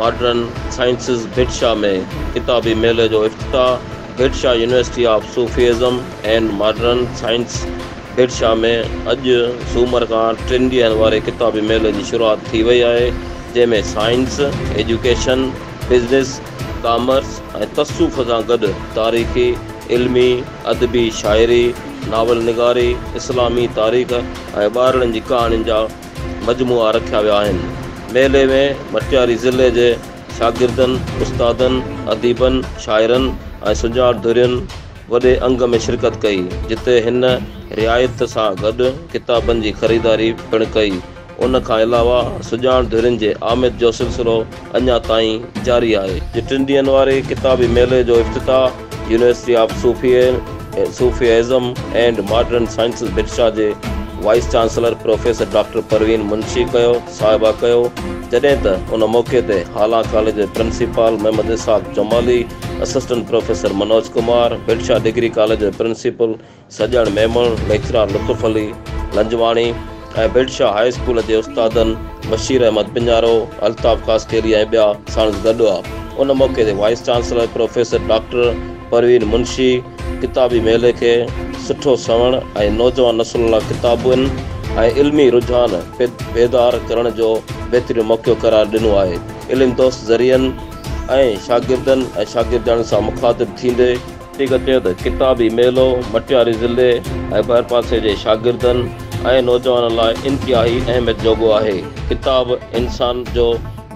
Modern sciences Bhit Shah ۾ ڪتابي ميلي جو افتتاح Bhit Shah university of Sufism and modern science Bhit Shah ۾ اڄ سومر کان ٽن ڏينهن واري ڪتابي ميلي جي شروعات ٿي وئي آهي جنهن ۾ سائنس، ايجوڪيشن، بزنس، ڪامرس ۽ تصوف سان گڏ تاريخي، علمي، ادبي، شاعري، ناول نگاري، اسلامي تاريخ ۽ ٻارڙن جي ڪهاڻين جا مجموعا رکيا ويا آهن. ميلي ۾ مٽياري ضلعي جي شاگردن، استادن، اديبن، شاعرن ۽ سڃاڻ ڌرين وڏي انگ ۾ شرڪت ڪئي، جتي هن رعايت سان گڏ ڪتابن جي خريداري پڻ ڪئي. ان کان علاوه سڃاڻ ڌرين جي آمد جو سلسلو اڃا تائين جاري آهي. جي ٽن ڏينهن واري ڪتابي ميلي جو افتتاح university of Sufism and modern sciences Bhitshah جي vice chancellor professor doctor Parveen Munshi ڪيو صاحبه ڪيو جڏهن ته ان موقعي تي هالا ڪاليج جي principal Muhammad Ishaq Jamali assistant professor Manoj Kumar Bhitshah degree college جي principal Sajjan Memon, lecturer Lutf Ali Lanjwani ۽ Bhit Shah high school جي استادن بشير احمد پڃارو، الطاف خاصخيلي ۽ ٻيا ساڻس گڏ هئا. ان موقعي تي vice chancellor professor doctor Parveen Munshi ڪتابي ميلي کي سٺو سنئوڻ ۽ نوجوان نسل لاء ڪتابن ۽ علمي رجحان بيدار ڪرڻ جو بهترين موقعو قرار ڏنو آهي. علم دوست ذريعن ۽ شاگردن ۽ شاگردياڻين سان مخاطب ٿيندي، وڌيڪ چيو ته ڪتابي ميلو مٽياري ضلعي ۽ ڀرپاسي جي شاگردن ۽ نوجوانن لاء انتهائي اهميت جوڳو آهي، ڪتاب انسان جو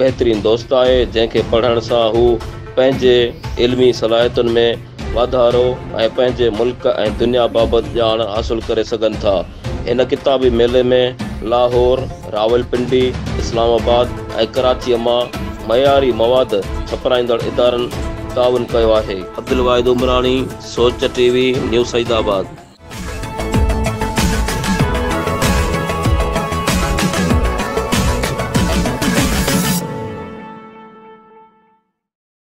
بهترين دوست آهي، جنهن کي پڙهڻ سان هو پنهنجي علمي صلاحيتن ۾ واڌارو ۽ پنهنجي ملڪ ۽ دنيا بابت ڄاڻ حاصل ڪري سگهن ٿا. هن ڪتابي ميلي ۾ لاهور، راولپنڊي، اسلام آباد ۽ ڪراچيء مان معياري مواد ڇپرائيندڙ ادارن تعاون ڪيو آهي. عبدالواحد عمراڻي، سوچ ٽي وي، نيو سعيد آباد.